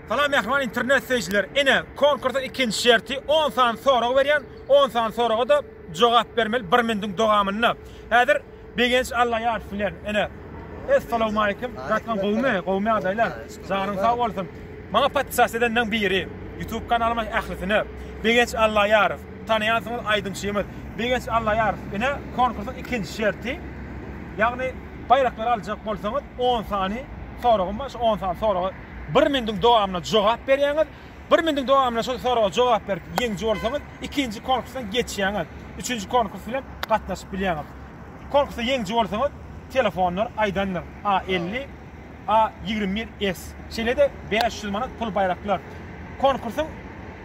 Salam mähriban internet söýüjiler. Ine, konkursyň ikinji şerti on sany sorag berýän, on sany soraga-da jogap bermeli bir minutiň dogamynda. Häzir Begenç Allaýarow bilen, ine, Essalawmaleýkim, Gatnaň gowumy? Gowumy ýagdaýlar? Janyň sag bolsun. Maňa podpisas edenleň biri, ýutub kanalyma ählisine. Begenç Allaýarow, tanaýansyňyz aýdymçymyz. Begenç Allaýarow, ine, konkursyň ikinji şerti, ýagny baýraklary aljak bolsaňyz on sany, soragym bar, şu on sany soraga bir minutiň dowamynda jogap berýäňiz. Bir minutiň dowamynda şol soraga jogap berip ýeňiji bolsaňyz, ikinji konkursdan geçýäňiz. Üçünji konkurs bilen gatnaşyp bilýäňiz. Konkursda ýeňiji bolsaňyz, telefonlar aýdandyr, A elli, A ýigrimi bir S. Şeýle-de bäş ýüz manat pul baýraklar. Konkursyň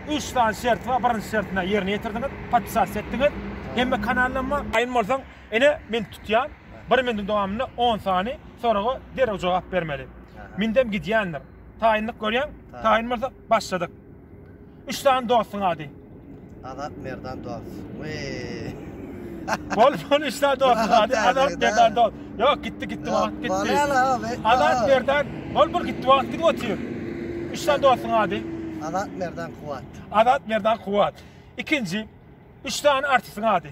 üç sany şerti bar, birinji şertini ýerine ýetirdiňiz, podpisasiýa etdiňiz, hemme kanaldan bar. Aýn bolsaň, Ene men tutýan bir mindiň dowamynda on sany soraga derrew jogap bermeli. Mindem gidýändir. Taýynlyk görýäň? Taýyn bolsa başladyk. Üç sany dostuň ady? Azat Merdan dost. Weee. Bol bol üç sany dostuň ady? Azat Merdan dost. Ýok gitdi gitdi wagt gitdi. Azat Merdan bol bol gitdi wagt gidip otyr. Üç sany dostuň ady? Azat Merdan Kuwat. Azat Merdan Kuwat. Ikinji. Üç sany artistiň ady?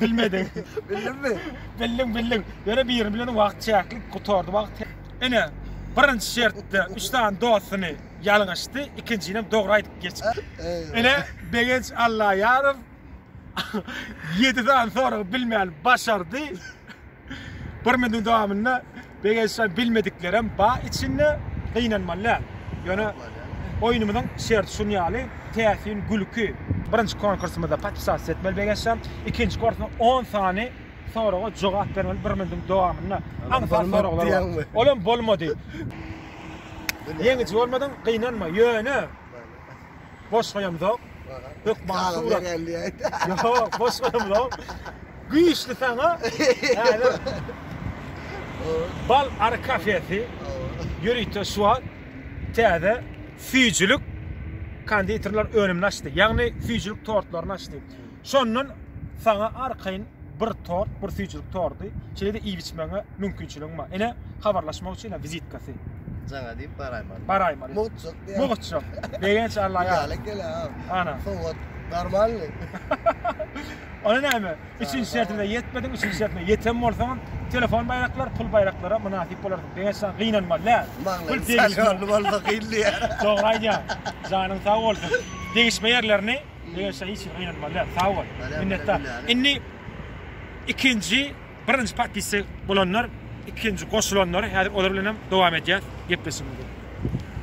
Bilmediň. Bildimmi? Bildiň, bildiň. Ýöne birini bileniň wagt çäkli gutardy wagt. Ine, birinji şertde üç sany dostuny ýalňyşdy, ikinjinem dogry aýdyp geçipdi. Ine, Begenç Allaýarow ýedi sany soragy bilmän başardy. Bir minutiň dowamynda begençden bilmediklerem bar içinde. Gynanmaly däl. Ýöne oýnumyzyň şerti şun ýaly, täsin gülki. Birinji konkursymyzda podpisasiýa etmeli begençden. Ikinji korkna on sany soraga jogap bermeli bir minutiň dowamynda. Aňsat soraglar bar. Olam bolmady. Ýeňiji bolmadyň, gynanma. Ýöne boş goýamzok. Hökman surat. Ýok, boş goýamzok. Güýçli saňa. Häzir Bal ary kafesi ýörite şu wagt täze süýjülik konditerler önümini açdy. Ýagny süýjülik tortlaryny açdy. Şondan saňa arkaýyn bir tort, bir süýjülik tordy, şeýle-de iýip-içmäňe mümkinçiligiň bar. Ine, habarlaşmak üçin ine wizitkasy. Jaňa diýip baraýmaly. Baraýmaly. Mugtjak diýýär. Mugtjak. Begenç Alla ýar. Ýaly gele ha. Ana. Sowat normalny. Ony näme? Üçünji şertine ýetmediň, üçünji şertine ýeten bolsaňam, telefon baýraklar, pul baýraklara mynasyp bolardyň. Begenç jan, gynanmaly dä. Maňlaýyň şalyony bolsa kyn diýýär. Dogry aýdýaň. Janyň sag bolsun. Degişme ýerlerini Eşe hiç kim gynanmaly däl. Sag bol. Minnetdar. Indi ikinji birinji podpisçi bolanlar ikinji goşulanlar häzir olar bilen hem dowam edýäs gepleşigimizi.